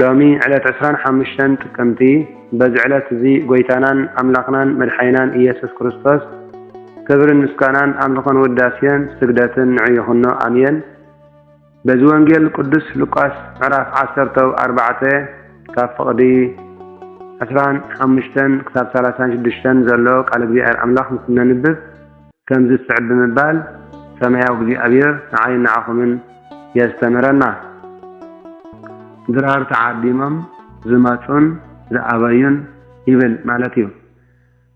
ሎሚ ዕለት ዕስራን ሓሙሽተን ጥቅምቲ በዚ ዕለት እዚ ጎይታናን ኣምላኽናን መድሓኒናን ኢየሱስ ክርስቶስ ክብርን ምስጋናን ኣምልኾን ውዳሴን ስግደትን ንዑ ይኹኖ ኣሜን በዚ ወንጌል ቅዱስ ሉቃስ ምዕራፍ ዓሰርተው ኣርባዕተ ካብ ፍቕዲ ዕስራን ሓሙሽተን ክሳብ ሰላሳን ሽዱሽተን ዘሎ ቃል እግዚኣብሔር ኣምላኽ ምስ እነንብብ ከምዚ ዝስዕብ ብምባል ሰማያዊ እግዚኣብሔር ንዓይን ንዓኹምን የስተምረና። ድራር ተዓዲሞም ዝመጹን ዝኣበዩን ይብል ማለት እዩ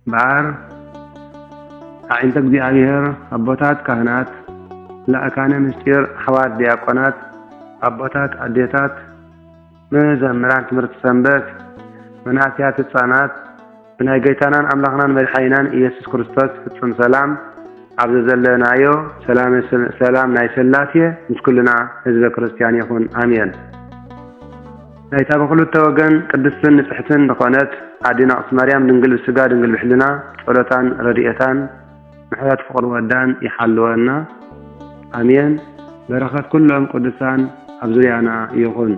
እምበኣር ኣዒንተ እግዚኣብሔር ኣቦታት ካህናት ላእካነ ምስጢር ኣሕዋት ዲያቆናት ኣቦታት ኣዴታት መዘምራን ትምህርቲ ሰንበት መናእሰያት ህጻናት ብናይ ጎይታናን ኣምላኽናን መድሓኒናን ኢየሱስ ክርስቶስ ፍጹም ሰላም ኣብ ዘዘለናዮ ሰላመ ሰላም ናይ ሥላሴ ምስ ኩልና ህዝበ ክርስቲያን ይኹን ኣሜን። ናይታ ብክልተ ወገን ቅድስትን ንጽሕትን ዝኾነት ኣዴና ቅድስት ማርያም ድንግል ብሥጋ ድንግል ብሕልና ጸሎታን ረድኤታን ምሕረት ፍቅሪ ወዳን ይሓልወና ኣሜን በረከት ኩሎም ቅዱሳን ኣብ ዙርያና ይኩን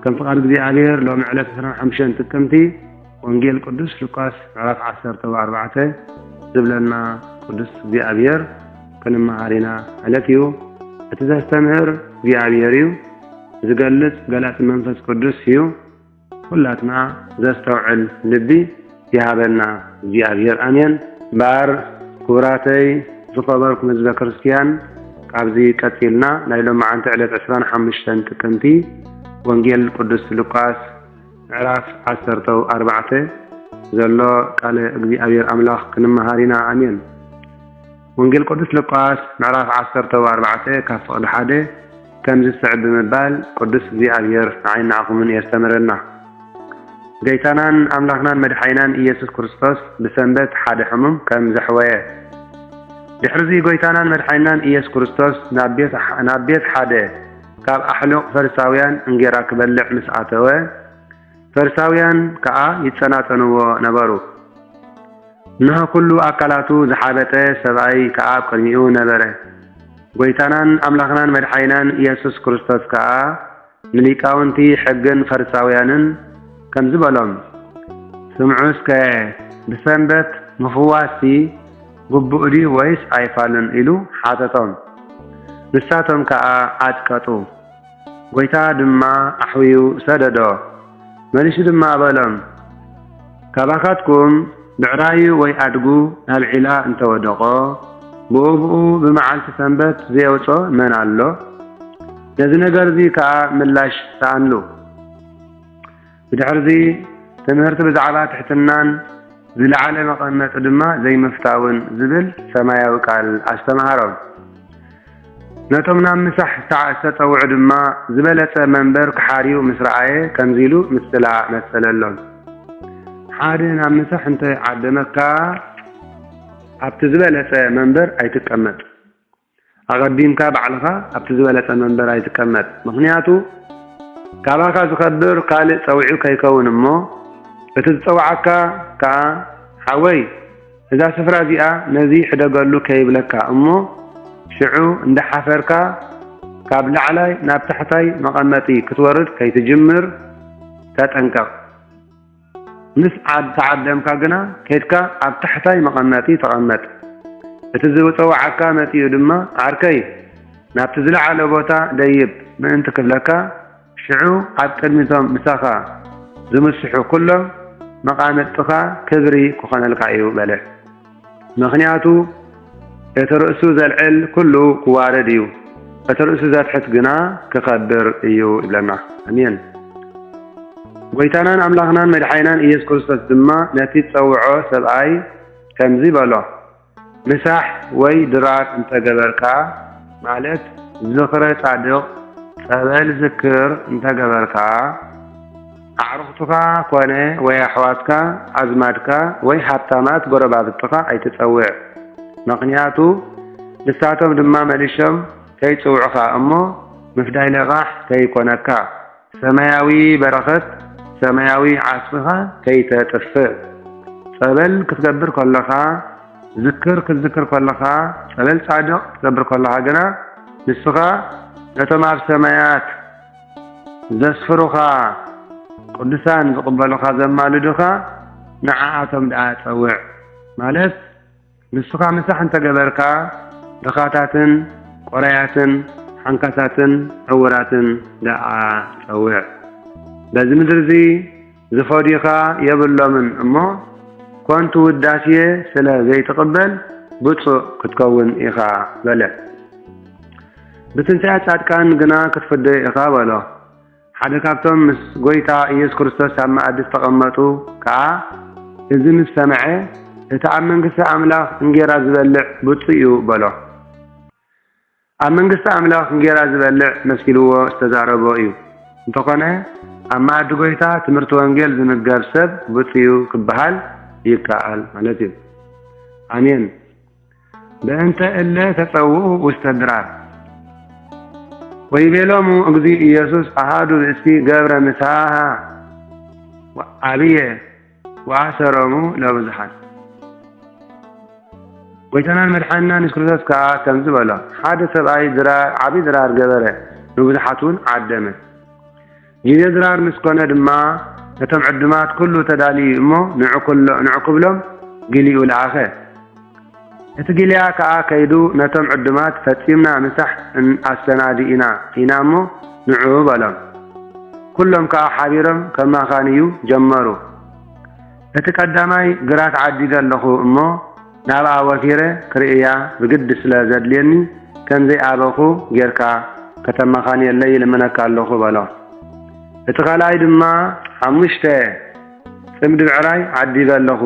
ከም ፍቃድ እግዚኣብሔር ሎሚ ዕለት ዕስራን ሓሙሽተን ጥቅምቲ ወንጌል ቅዱስ ሉቃስ ምዕራፍ ዓሰርተ ኣርባዕተ ዝብለና ቅዱስ እግዚኣብሔር ክንመሃር ኢና ዕለት እዩ እቲ ዘስተምህር እግዚኣብሔር እዩ ዝገልጽ ገላጺ መንፈስ ቅዱስ እዩ ኩላትና ዘስተውዕል ልቢ ይሃበና እግዚኣብሔር ኣሜን። እምበኣር ክቡራተይ ዝኸበርኩም ህዝበ ክርስትያን ካብዚ ቀጺልና ናይ ሎምዓንቲ ዕለት ዕስራን ሓሙሽተን ጥቅምቲ ወንጌል ቅዱስ ሉቃስ ምዕራፍ ዓሰርተው ኣርባዕተ ዘሎ ቃለ እግዚኣብሔር ኣምላኽ ክንመሃር ኢና ኣሜን። ወንጌል ቅዱስ ሉቃስ ምዕራፍ ዓሰርተ ኣርባዕተ ካብ ፍቕዲ ሓደ ከምዚ ዝስዕብ ብምባል ቅዱስ እግዚኣብሔር ንዓይን ንዓኹምን የስተምረና። ገይታናን ኣምላኽናን መድሓይናን ኢየሱስ ክርስቶስ ብሰንበት ሓደ ሕሙም ከም ዘሕወየ ድሕርዚ ጎይታናን መድሓይናን ኢየሱስ ክርስቶስ ናብ ቤት ሓደ ካብ ኣሕሉቕ ፈሪሳውያን እንጌራ ክበልዕ ምስ ኣተወ ፈርሳውያን ከኣ ይጸናጸንዎ ነበሩ። እንሆ ኩሉ ኣካላቱ ዝሓበጠ ሰብኣይ ከኣ ኣብ ቅድሚኡ ነበረ። ጎይታናን ኣምላኽናን መድሓኒናን ኢየሱስ ክርስቶስ ከኣ ንሊቃውንቲ ሕግን ፈርሳውያንን ከምዚ በሎም፣ ስምዑ እስከ፣ ብሰንበት ምፍዋስሲ ግቡእ ድዩ ወይስ ኣይፋልን? ኢሉ ሓተቶም። ንሳቶም ከኣ ዓጥቀጡ። ጐይታ ድማ ኣሕውዩ ሰደዶ። መሊሱ ድማ በሎም፣ ካባኻትኩም ብዕራዩ ወይ ኣድጉ ናብ ዒላ እንተ ወደቖ፣ ብኡብኡ ብመዓልቲ ሰንበት ዘየውጽኦ መን ኣሎ? ነዚ ነገርዚ ከኣ ምላሽ ሰኣንሉ። ብድሕርዚ ትምህርቲ ብዛዕባ ትሕትናን ዝለዓለ መቐመጢ ድማ ዘይምፍታውን ዝብል ሰማያዊ ቃል ኣስተምሃሮም። ነቶም ናብ ምሳሕ ዝተጸውዑ ድማ ዝበለጸ መንበር ክሓርዩ ምስ ረኣየ ከምዚ ኢሉ ምስላ መሰለሎም። ሓደ ናብ ምሳሕ እንተ ዓደመካ ኣብቲ ዝበለጸ መንበር ኣይትቀመጥ። ኣቐዲምካ ባዕልኻ ኣብቲ ዝበለጸ መንበር ኣይትቀመጥ ምኽንያቱ ካባኻ ዝኸብር ካልእ ጸዊዑ ከይከውን እሞ እቲ ዝጸውዓካ ከኣ ሓወይ እዛ ስፍራ እዚኣ ነዚ ሕደገሉ ከይብለካ እሞ ሽዑ እንዳሓፈርካ ካብ ላዕላይ ናብ ታሕታይ መቐመጢ ክትወርድ ከይትጅምር ተጠንቀቕ። ምስ ዓድ ተዓደምካ ግና ከድካ ኣብ ታሕታይ መቐመጢ ተቐመጥ። እቲ ዝብጸውዓካ መጺኡ ድማ ዓርከይ ናብቲ ዝለዓለ ቦታ ደይብ ምእንቲ ክብለካ ሽዑ ኣብ ቅድሚቶም ምሳኻ ዝምስሑ ኩሎም መቓምጥኻ ክብሪ ክኾነልካ እዩ በለ። ምኽንያቱ እቲ ርእሱ ዘልዕል ኩሉ ክዋረድ እዩ፣ እቲ ርእሱ ዘትሕት ግና ክኸብር እዩ ይብለና። ኣሜን። ጐይታናን ኣምላኽናን መድሓኒናን ኢየሱስ ክርስቶስ ድማ ነቲ ዝጸውዖ ሰብኣይ ከምዚ በሎ፣ ምሳሕ ወይ ድራር እንተ ገበርካ፣ ማለት ዝኽረ ጻድቕ፣ ጸበል ዝክር፣ እንተ ገበርካ፣ ኣዕሩኽትኻ ኮነ ወይ ኣሕዋትካ፣ ኣዝማድካ ወይ ሃብታማት ጎረባብትኻ ኣይትጸውዕ። መኽንያቱ ንሳቶም ድማ መሊሾም ከይጽውዑኻ እሞ ምፍዳይ ለቓሕ ከይኮነካ፣ ሰማያዊ በረኸት ሰማያዊ ዓስብኻ ከይተጥፍእ። ጸበል ክትገብር ከሎኻ፣ ዝክር ክትዝክር ከሎኻ፣ ጸበል ጻድቕ ክትገብር ከሎኻ ግና ንስኻ ነቶም ኣብ ሰማያት፣ ዘስፍሩኻ ቅዱሳን ዝቅበሉኻ ዘማልዱኻ ንዓኣቶም ድኣ ጸውዕ ማለት ንስኻ ምሳሕ እንተገበርካ ድኻታትን ቆራያትን ሓንካሳትን ዕውራትን ድኣ ጸውዕ በዚ ምድሪ እዚ ዝፈድዩኻ የብሎምን እሞ ኮንቱ ውዳሴ ስለ ዘይትቕበል ብጹእ ክትከውን ኢኻ በለ። ብትንሳኤ ጻድቃን ግና ክትፍደዮ ኢኻ በሎ። ሓደ ካብቶም ምስ ጎይታ ኢየሱስ ክርስቶስ ኣብ መኣዲ ዝተቐመጡ ከኣ እዚ ምስ ሰምዐ እቲ ኣብ መንግስቲ ኣምላኽ እንጌራ ዝበልዕ ብጹእ እዩ በሎ። ኣብ መንግስቲ ኣምላኽ እንጌራ ዝበልዕ መሲልዎ ዝተዛረቦ እዩ። እንተኾነ ኣብ መኣዲ ጎይታ ትምህርቲ ወንጌል ዝምገብ ሰብ ብፁዩ ክበሃል ይከኣል ማለት እዩ። ኣሜን። በእንተ እለ ተጸውኡ ውስተ ድራር ወይቤሎሙ እግዚእ ኢየሱስ ኣሃዱ ብእሲ ገብረ ምሳሃ ዓብየ ወኣሰሮሙ ለብዙኃን። ጐይታናን መድሓኒናን የሱስ ክርስቶስ ከኣ ከምዚ በሎ፣ ሓደ ሰብኣይ ድራር ዓቢ ድራር ገበረ፣ ንብዙኃትውን ዓደመ። ጊዜ ድራር ምስ ኮነ ድማ ነቶም ዕዱማት ኩሉ ተዳልዩ እሞ ንዑ ክብሎም ግሊኡ ለኣኸ። እቲ ጊልያ ከኣ ከይዱ ነቶም ዕዱማት ፈጺምና ምሳሕ እን ኣሰናዲእና ኢና እሞ ንዑ በሎም። ኩሎም ከኣ ሓቢሮም ከማኻንዩ ጀመሩ። እቲ ቀዳማይ ግራት ዓዲገ ኣለኹ እሞ ናብኣ ወፊረ ክርእያ ብግዲ ስለ ዘድልየኒ ከምዘይ ኣበኹ ጌርካ ከተማኻንየለይ ይልምነካ ኣለኹ በሎ። እቲ ካልኣይ ድማ ሓሙሽተ ጽምዲ ብዕራይ ዓዲገ ኣለኹ።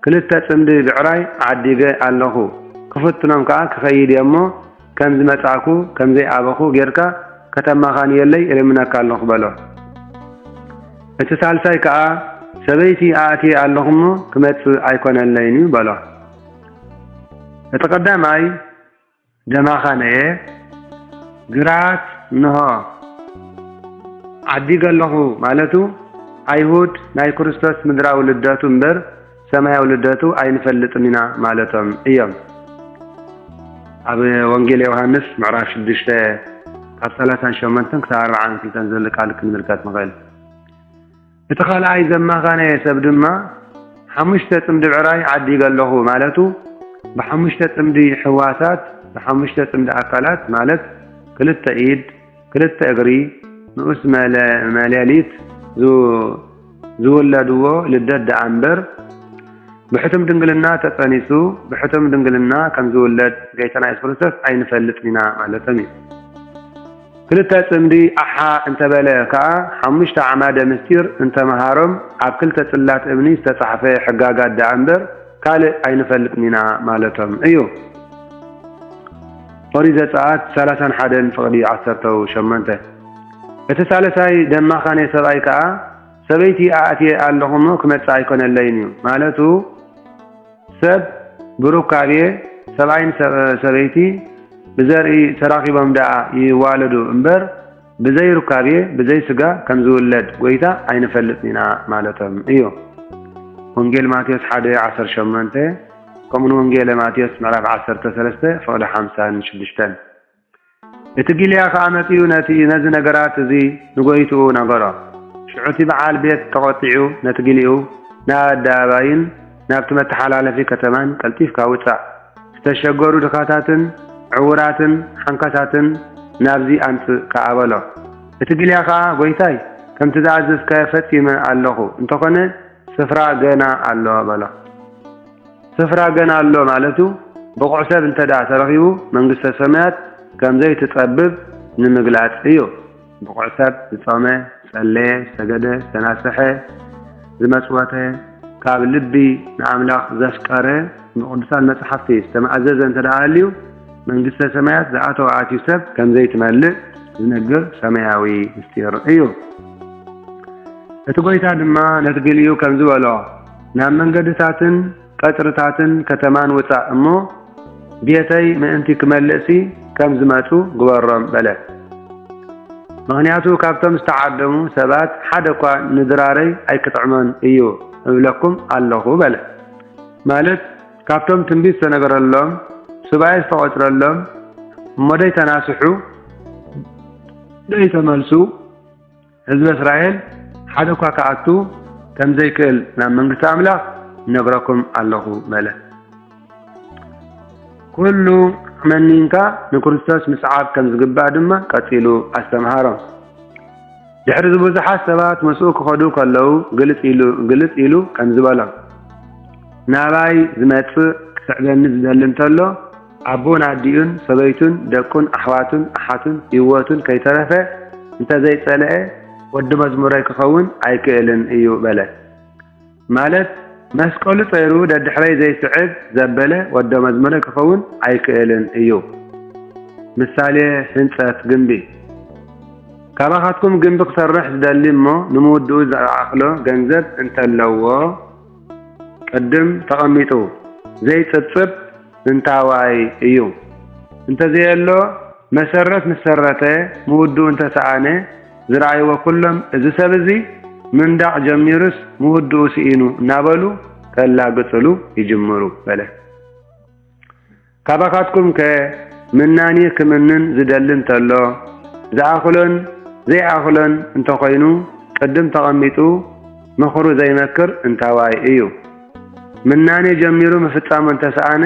ክልተ ጽምዲ ብዕራይ ዓዲገ ኣለኹ፣ ክፍትኖም ከኣ ክኸይድ እየ እሞ፣ ከም ዝመጻእኩ፣ ከም ዘይኣበኹ ጌርካ ከተማኻንየለይ እልምነካ ኣለኹ በሎ። እቲ ሳልሳይ ከኣ፣ ሰበይቲ ኣእትየ ኣለኹ እሞ፣ ክመጽእ ኣይኰነለይን'ዩ በሎ። እቲ ቀዳማይ፣ ደማኻ ነየ ግራት እንሆ ዓዲግ ኣለኹ ማለቱ ኣይሁድ ናይ ክርስቶስ ምድራዊ ልደቱ እምበር ሰማያዊ ልደቱ ኣይንፈልጥን ኢና ማለቶም እዮም። ኣብ ወንጌል ዮሃንስ ምዕራፍ ሽዱሽተ ካብ ሰላሳን ሸሞንተን ክሳብ ኣርብዓን ክልተን ዘሎ ቃል ክንምልከት ንኽእል። እቲ ካልኣይ ዘማኻነየ ሰብ ድማ ሓሙሽተ ጽምዲ ብዕራይ ዓዲገ ኣለኹ ማለቱ ብሓሙሽተ ጽምዲ ሕዋሳት ብሓሙሽተ ጽምዲ ኣካላት ማለት ክልተ ኢድ ክልተ እግሪ ንኡስ መሌሊት ዝውለድዎ ልደት ደኣምበር ብሕቱም ድንግልና ተጸኒሱ ብሕቱም ድንግልና ከምዝውለድ ገይታና የሱስ ክርስቶስ ኣይንፈልጥን ኢና ማለቶም እዩ። ክልተ ጽምዲ ኣሓ እንተ በለ ከኣ ሓሙሽተ ኣዕማደ ምስጢር እንተ መሃሮም ኣብ ክልተ ጽላት እምኒ ዝተጻሕፈ ሕጋጋት ደኣ እምበር ካልእ ኣይንፈልጥን ኢና ማለቶም እዩ። ኦሪት ዘጸኣት ሰላሳን ሓደን ፍቕዲ ዓሰርተው ሸሞንተ እቲ ሳልሳይ ደማኻኔ ሰብኣይ ከኣ ሰበይቲ ኣእትየ ኣለኹ እሞ ክመጽእ ኣይኮነለይን እዩ ማለቱ ሰብ ብሩካቤ ሰብኣይን ሰበይቲ ብዘርኢ ተራኺቦም ደኣ ይዋለዱ እምበር ብዘይ ሩካቤ ብዘይ ስጋ ከም ዝውለድ ጎይታ ኣይንፈልጥን ኢና ማለቶም እዩ። ወንጌል ማቴዎስ ሓደ ዓሰርተ ሸሞንተ ከምኡውን ወንጌለ ማቴዎስ ምዕራፍ ዓሰርተ ሰለስተ ፍቕዲ ሓምሳን ሽዱሽተን። እቲ ጊልያ ኸኣ መጺኡ ነቲ ነዚ ነገራት እዚ ንጐይትኡ ነገሮ። ሽዑ እቲ ብዓል ቤት ተቖጢዑ ነቲ ጊልኡ፣ ናብ ኣደባባይን ናብቲ መተሓላለፊ ከተማን ቀልጢፍካ ውጻእ፣ ዝተሸገሩ ድኻታትን ዕዉራትን ሓንካሳትን ናብዚ ኣምጽእ ከኣ በሎ። እቲ ጊልያ ኸኣ ጐይታይ፣ ከምቲ ዝኣዘዝካዮ ፈጺመ ኣሎኹ፣ እንተኾነ ስፍራ ገና ኣሎ በሎ። ስፍራ ገና ኣሎ ማለቱ ብቑዕ ሰብ እንተድኣ ተረኺቡ መንግስተ ሰማያት ከምዘይትጸብብ ንምግላጽ እዩ። ብቑዕ ሰብ ዝጾመ፣ ዝጸለየ፣ ዝሰገደ፣ ዝተናስሐ፣ ዝመጽወተ፣ ካብ ልቢ ንኣምላኽ ዘፍቀረ፣ ብቕዱሳን መጻሕፍቲ ዝተማእዘዘ እንተድኣ ሃልዩ መንግስተ ሰማያት ዝኣተወ ኣትዩ ሰብ ከምዘይትመልእ ዝነግር ሰማያዊ ምስጢር እዩ። እቲ ጐይታ ድማ ነቲ ገልዩ ከምዚ በሎ፣ ናብ መንገድታትን ቀጽርታትን ከተማን ውጻእ እሞ፣ ቤተይ ምእንቲ ክመልእሲ ከም ዝመጹ ግበሮም በለት። ምኽንያቱ ካብቶም ዝተዓደሙ ሰባት ሓደ እኳ ንድራረይ ኣይክጥዕሞን እዩ እብለኩም ኣሎኹ በለ። ማለት ካብቶም ትንቢት ዝተነገረሎም፣ ሱባኤ ዝተቖጽረሎም እሞ ደይተናስሑ፣ ደይተመልሱ፣ ህዝበ እስራኤል ሓደ እኳ ክኣቱ ከም ዘይክእል ናብ መንግስቲ ኣምላኽ ነግረኩም ኣለኹ በለ። ኩሉ መኒንካ ንክርስቶስ ምስዓብ ከም ዝግባእ ድማ ቀጺሉ ኣስተምሃሮም። ድሕሪ እዚ ብዙሓት ሰባት ምስኡ ክኸዱ ከለዉ ግልጽ ኢሉ ከምዚ በሎም፣ ናባይ ዝመጽእ ክስዕበኒ ዝደሊ እንተሎ ኣቡኡን ኣዲኡን፣ ሰበይቱን፣ ደቁን፣ ኣሕዋቱን፣ ኣሓቱን፣ ሂወቱን ከይተረፈ እንተዘይጸለኤ ወዲ መዝሙረይ ክኸውን ኣይክእልን እዩ በለ። ማለት መስቀሉ ጸይሩ ደድሕረይ ዘይስዕብ ዘበለ ወዶ መዝሙረይ ክኸውን ኣይክእልን እዩ። ምሳሌ ሕንጸት ግምቢ ካባኻትኩም ግምቢ ክሰርሕ ዝደሊ እሞ ንምውድኡ ዝኣኽሎ ገንዘብ እንተለዎ ቅድም ተቐሚጡ ዘይጽብጽብ እንታዋይ እዩ እንተዘየሎ መሰረት ምስ ሰረተ ምውድኡ እንተሰኣነ ዝረኣይዎ ኩሎም እዚ ሰብ እዚ ምንዳቕ ጀሚሩስ ምውድኡ ስኢኑ እናበሉ ከላግጽሉ ይጅምሩ በለ። ካባኻትኩምከ ምናኒ ክምንን ዝደሊ እንተሎ ዝኣኽሎን ዘይኣኽሎን እንተኾይኑ ቅድም ተቐሚጡ ምኽሩ ዘይመክር እንታዋይ እዩ? ምናኔ ጀሚሩ ምፍጻሙ እንተሰኣነ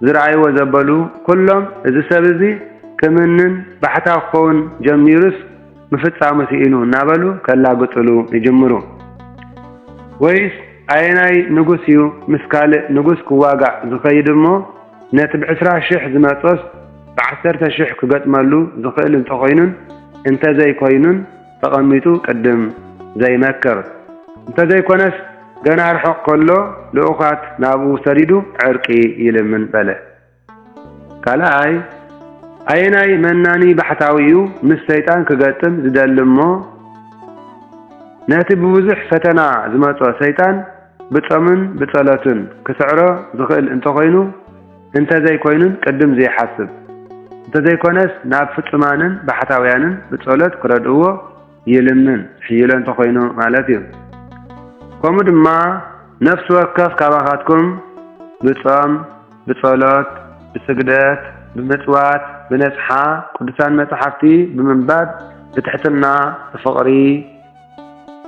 ዝረኣይዎ ዘበሉ ኩሎም እዚ ሰብ እዚ ክምንን ባሕታዊ ክኸውን ጀሚሩስ ምፍጻሙ ስኢኑ እናበሉ ከላግጽሉ ይጅምሩ። ወይስ ኣየናይ ንጉስ እዩ ምስ ካልእ ንጉስ ክዋጋእ ዝኸይድ እሞ ነቲ ብዕስራ ሽሕ ዝመጾስ ብዓሰርተ ሽሕ ክገጥመሉ ዝኽእል እንተኾይኑን እንተዘይኮይኑን ተቐሚጡ ቅድም ዘይመክር እንተዘይኮነስ ገና ርሑቕ ከሎ ልኡኻት ናብኡ ሰዲዱ ዕርቂ ይልምን በለ። ካልኣይ፣ ኣየናይ መናኒ ባሕታዊ'ዩ ምስ ሰይጣን ክገጥም ዝደሊ'ሞ ነቲ ብብዙሕ ፈተና ዝመጾ ሰይጣን ብጾምን ብጸሎትን ክስዕሮ ዝኽእል እንተኾይኑ፣ እንተዘይኮይኑን ቅድም ዘይሓስብ እንተዘይኮነስ ናብ ፍጹማንን ባሕታውያንን ብጸሎት ክረድእዎ ይልምን ሕይሎ እንተኾይኑ ማለት እዩ። ከምኡ ድማ ነፍሲ ወከፍ ካባኻትኩም ብጾም፣ ብጸሎት፣ ብስግደት፣ ብምጽዋት፣ ብነጽሓ ቅዱሳን መጻሕፍቲ ብምንባብ፣ ብትሕትና፣ ብፍቕሪ፣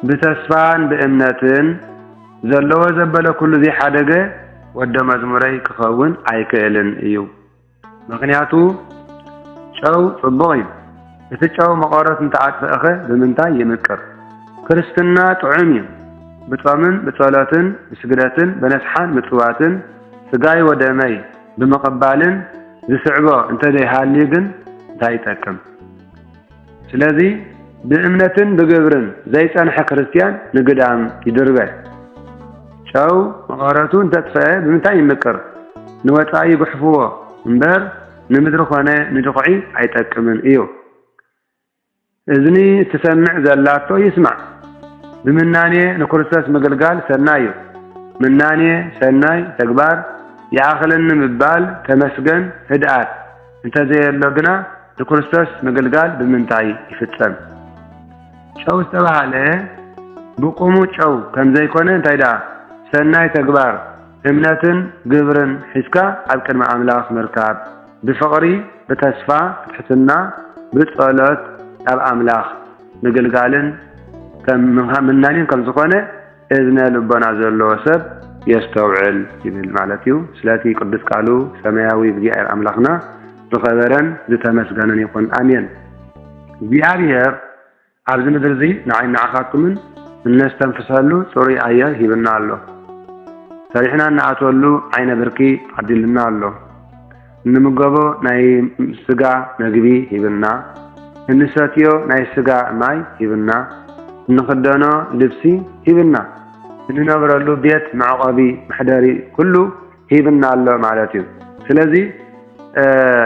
ብተስፋን ብእምነትን፣ ዘለዎ ዘበለ ኩሉ ዘይሓደገ ወደ መዝሙረይ ክኸውን ኣይክእልን እዩ ምኽንያቱ ጨው ጽቡቕ እዩ እቲ ጨው መቐረት እንተኣጥፍእኸ ብምንታይ ይምቅር ክርስትና ጥዑም እዩ ብጾምን ብጸሎትን ብስግደትን በነስሓን ምጽዋትን ስጋይ ወደመይ ብምቕባልን ዝስዕቦ እንተዘይሃልዩ ግን እንታይ ይጠቅም። ስለዚ ብእምነትን ብግብርን ዘይጸንሐ ክርስትያን ንግዳም ይድርበ። ጨው መቐረቱ እንተጥፈኤ ብምንታይ ይምቅር? ንወጻኢ ይጉሕፍዎ እምበር ንምድሪ ኮነ ንድኹዒ ኣይጠቅምን እዩ። እዝኒ እትሰምዕ ዘላቶ ይስማዕ። ብምናኔ ንክርስቶስ ምግልጋል ሰናይ እዩ። ምናኔ፣ ሰናይ፣ ተግባር፣ ይኣኽለኒ ምባል፣ ተመስገን፣ ህድኣት፣ እንተዘየሎ ግና ንክርስቶስ ምግልጋል ብምንታይ ይፍጸም? ጨው ዝተባህለ ብቁሙ ጨው ከምዘይኮነ እንታይ ደኣ ሰናይ ተግባር እምነትን ግብርን ሒዝካ ኣብ ቅድሚ ኣምላኽ ምርካብ ብፍቕሪ ብተስፋ ብትሕትና ብጸሎት ናብ ኣምላኽ ምግልጋልን ምናኔን ከምዝኾነ እዝነ ልቦና ዘለዎ ሰብ የስተውዕል ይብል ማለት እዩ። ስለቲ ቅዱስ ቃሉ ሰማያዊ እግዚኣብሔር ኣምላኽና ዝኸበረን ዝተመስገነን ይኹን ኣሜን። እግዚኣብሔር ኣብዚ ምድሪ እዚ ንዓይ ንዓኻትኩምን እነስተንፍሰሉ ፅሩይ ኣየር ሂብና ኣሎ። ሰሪሕና እንኣትወሉ ዓይነ ብርኪ ዓዲልና ኣሎ። እንምገቦ ናይ ስጋ መግቢ ሂብና፣ እንሰትዮ ናይ ስጋ ማይ ሂብና፣ እንኽደኖ ልብሲ ሂብና፣ እንነብረሉ ቤት መዕቆቢ መሕደሪ ኩሉ ሂብና ኣሎ ማለት እዩ። ስለዚ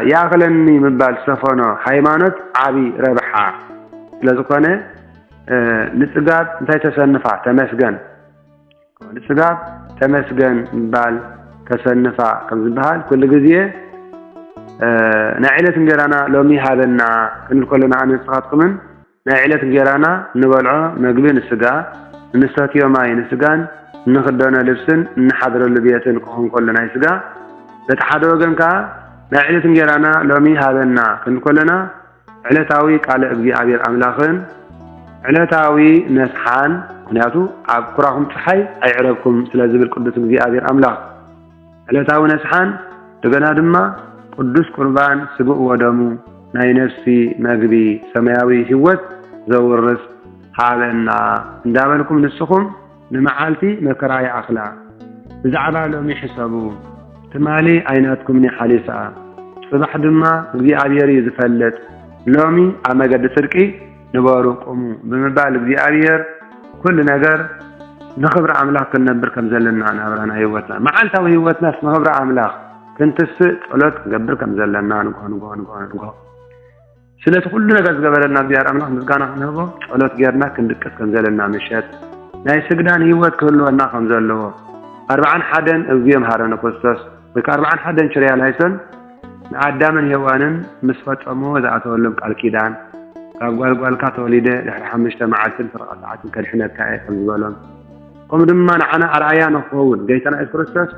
ይኣኽለኒ ምባል ዝሰፈኖ ሃይማኖት ዓቢ ረብሓ ስለዝኾነ ንጽጋብ እንታይ ተሰንፋ ተመስገን። ክብሉ ስጋብ ተመስገን ምባል ከሰንፋ ከም ዝበሃል ኩሉ ግዜ ናይ ዕለት እንጌራና ሎሚ ሃበና ክንብል ከሎና ኣነ ንስኻትኩምን ናይ ዕለት እንጌራና እንበልዖ መግቢ ንስጋ እንሰትዮ ማይ ንስጋን እንኽደኖ ልብስን እንሓድረሉ ቤትን ክኹን ከሎ ናይ ስጋ በቲ ሓደ ወገን ከኣ ናይ ዕለት እንጌራና ሎሚ ሃበና ክንብል ከሎና ዕለታዊ ቃለ እግዚኣብሔር ኣምላኽን ዕለታዊ ነስሓን ምክንያቱ ኣብ ኩራኹም ፀሓይ ኣይዕረብኩም ስለ ዝብል ቅዱስ እግዚኣብሔር ኣምላኽ ዕለታዊ ነስሓን እንደገና ድማ ቅዱስ ቁርባን ስግኡ ወደሙ ናይ ነፍሲ መግቢ ሰማያዊ ሕይወት ዘውርስ ሃበና እንዳበልኩም ንስኹም ንመዓልቲ መከራ ይኣኽላ ብዛዕባ ሎሚ ሕሰቡ ትማሊ ኣይናትኩምን'ያ ሓሊፋ ጽባሕ ድማ እግዚኣብሔር እዩ ዝፈልጥ ሎሚ ኣብ መገዲ ጽድቂ ንበሩ ቁሙ ብምባል እግዚኣብሔር ኩሉ ነገር ንኽብሪ ኣምላኽ ክንነብር ከም ዘለና ናብራና ህይወትና መዓልታዊ ህይወትናስ ንኽብሪ ኣምላኽ ክንትስእ ጸሎት ክንገብር ከም ዘለና ንግሆ ንግሆ ንግሆ ንግሆ ስለቲ ኩሉ ነገር ዝገበረልና እግዚኣብሔር ኣምላኽ ምስጋና ክንህቦ ጸሎት ጌርና ክንድቅስ ከም ዘለና ምሸት ናይ ስግዳን ህይወት ክህልወና ከም ዘለዎ ኣርብዓን ሓደን እግዚኦ መሐረነ ክርስቶስ ወይ ከዓ ኣርብዓን ሓደን ችርያ ላይሶን ንኣዳምን ሔዋንን ምስ ፈጸምዎ ዝኣተወሎም ቃል ኪዳን ካብ ጓልጓልካ ተወሊደ ድሕሪ ሓሙሽተ መዓልትን ፈረቓ ሰዓትን ከድሕነካ እየ ከም ዝበሎም ከምኡ ድማ ንዓና ኣርኣያ ንክኸውን ገይታና የሱስ ክርስቶስ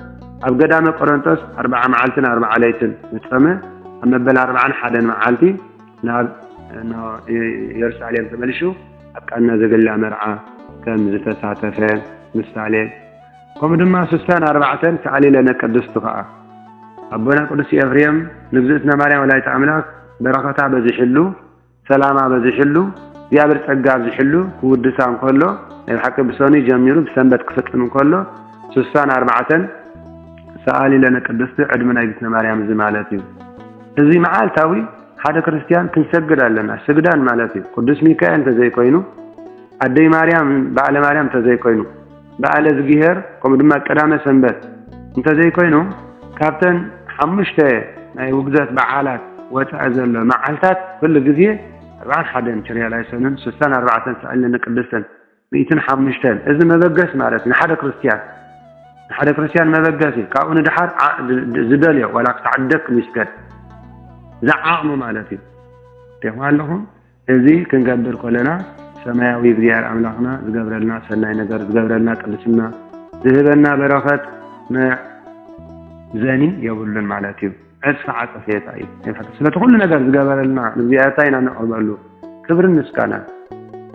ኣብ ገዳመ ቆረንቶስ ኣርብዓ መዓልትን ኣርብዓ ለይትን ምጸመ ኣብ መበል ኣርብዓን ሓደን መዓልቲ ናብ የሩሳሌም ተመልሹ ኣብ ቃና ዘገሊላ መርዓ ከም ዝተሳተፈ ምሳሌ ከምኡ ድማ ስሳን ኣርባዕተን ተኣሊለነ ቅድስቱ ከዓ ኣቦና ቅዱስ ኤፍሬም ንግዝእትና ማርያም ወላዲተ ኣምላክ በረኸታ በዚሕሉ ሰላም ኣበዚሕሉ እግዚኣብሔር ጸጋ ኣብዚሕሉ ክውድሳ እንከሎ ናይ ብሓቂ ብሰኑይ ጀሚሩ ብሰንበት ክፍጽም እንከሎ ስሳን ኣርባዕተን ሰኣሊ ለነ ቅድስቲ ዕድመ ናይ ግትነ ማርያም እዚ ማለት እዩ እዚ መዓልታዊ ሓደ ክርስትያን ክንሰግድ ኣለና ስግዳን ማለት እዩ ቅዱስ ሚካኤል እንተዘይኮይኑ ኣደይ ማርያም በዓለ ማርያም እንተዘይኮይኑ በዓለዝጊሄር ከምኡ ድማ ቀዳመ ሰንበት እንተዘይኮይኑ ካብተን ሓሙሽተ ናይ ውግዘት በዓላት ወፃኢ ዘሎ መዓልታት ኩሉ ግዜ ኣርባዓን ሓደን ችርያ ላይሶንን ስሳን ኣርባዕተን ሰዕል ንቅድስትን ሚእትን ሓሙሽተን እዚ መበገስ ማለት ንሓደ ክርስትያን ንሓደ ክርስትያን መበገሲ ካብኡ ንድሓር ዝደልዮ ዋላ ክሳዕ ደክ ይስገድ ዝዓቕሙ ማለት እዩ ቴማ ኣለኹም እዚ ክንገብር ኮለና ሰማያዊ እግዚኣብሔር ኣምላክና ዝገብረልና ሰናይ ነገር ዝገብረልና ቅድስና ዝህበና በረከት መዕዘኒ የብሉን ማለት እዩ። ዕጽፊ ዓጸፌታ እዩ። ስለቲ ኩሉ ነገር ዝገበረልና ንእግዚኣብሔር ኢና ነቅርበሉ ክብርን ምስጋናን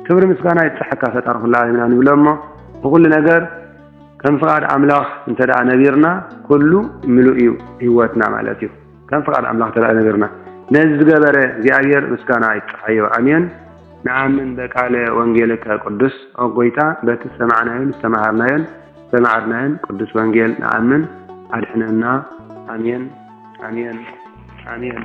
ክብሪ ምስጋና ይብጽሐካ ፈጣሪ ኩሉ ዓለምና ንብሎ እሞ ብኩሉ ነገር ከም ፍቃድ ኣምላኽ እንተ ነቢርና ኩሉ ምሉእ እዩ ህይወትና ማለት እዩ። ከም ፍቃድ ኣምላክ ተራእዩ ነገርና ነዚ ዝገበረ እግዚኣብሔር ምስጋና ይብጽሓዮ ኣሜን። ንኣምን በቃለ ወንጌልከ ቅዱስ ኦ ጎይታ በቲ ዝሰማዕናዮን ዝተማሃርናዮን ዝተማዓድናዮን ቅዱስ ወንጌል ንኣምን ኣድሕነና ኣሜን ኣሜን ኣሜን።